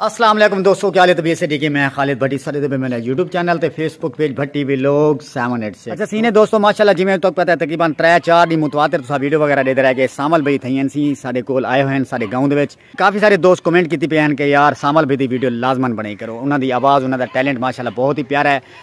السلام علیکم دوستو کیا لیتے بی ایس ڈی کے میں خالد بھٹی سارے دے میں نے یوٹیوب چینل تے Facebook page Bhatti vlog 786 اچھا سینے دوستو ماشاءاللہ جی میں تو پتہ ہے تقریبا 3 4 دی متواتر تسا ویڈیو وغیرہ دے رہے کہ سامل بھئی تھئی ہیں سی ساڈے کول آئے ہوئے ہیں ساڈے گاؤں دے وچ کافی سارے دوست کمنٹ کیتی پے ہیں کہ یار سامل بھئی دی ویڈیو لازمن بنائی کرو انہاں دی آواز انہاں دا ٹیلنٹ ماشاءاللہ بہت ہی پیارا ہے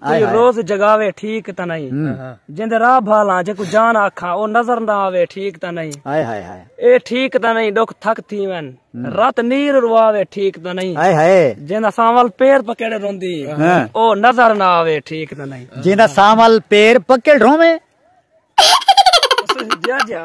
کوئی روز جگاوے ٹھیک تا نہیں جند راہ بھالا جے کو جان آکھا او نظر نہ آوے ٹھیک تا نہیں ہائے ہائے ہائے اے ٹھیک تا نہیں ڈوک تھک تھی ون رات نیر رواوے ٹھیک تا نہیں ہائے ہائے جند سامل پیر پکڑ روندی او نظر نہ آوے ٹھیک تا نہیں جند سامل پیر پکڑ روے جا جا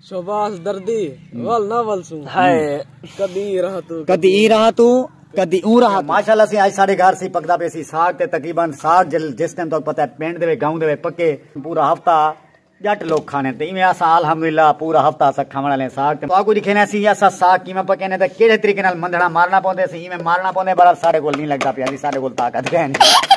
شہباز دردی ول نہ ول سوں ہائے کدی ایں راہ توں کدی ایں راہ توں کدی اوں راہ توں ماشاءاللہ سی اج ساڈے گھر سی پکدا پے سی ساگ تے تقریبا ساگ جس ٹائم تک پتہ ہے پنڈ دے گاؤں دے پکے پورا ہفتہ جٹ لوگ کھانے تے ایویں اسا الحمدللہ پورا ہفتہ اسا کھاون والے ساگ تے اگو دکھینے اسی یا سا ساگ کیویں پکینے تے کیڑے طریقے نال مندھڑا مارنا پوندے سی ایویں مارنا پوندے بڑا ساڈے کول نہیں لگدا پیا جی ساڈے کول طاقت ہے نہیں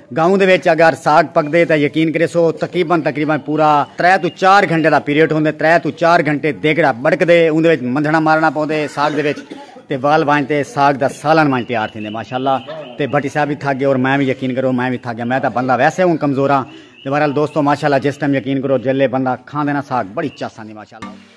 گاؤں دے وچ اگر ساگ پکدے تاں یقین کریسو تقریبا تقریبا پورا ترے توں چار گھنٹے دا پیریڈ ہوندے ترے توں چار گھنٹے دیگڑا بڑکدے اوندے وچ مندھنا مارنا پوندے ساگ دے وچ تے وال وانج تے ساگ دا سالن وانج تیار تھیندے ماشاءاللہ تے بھٹی صاحب وی تھک گئے اور میں وی یقین کرو میں وی تھک گیا میں تاں بندہ ویسے ہوں کمزور ہاں تے بہرحال دوستو ماشاءاللہ جس ٹائم یقین کرو جیلے بندہ کھاندے نا ساگ بڑی چس آندی ماشاءاللہ۔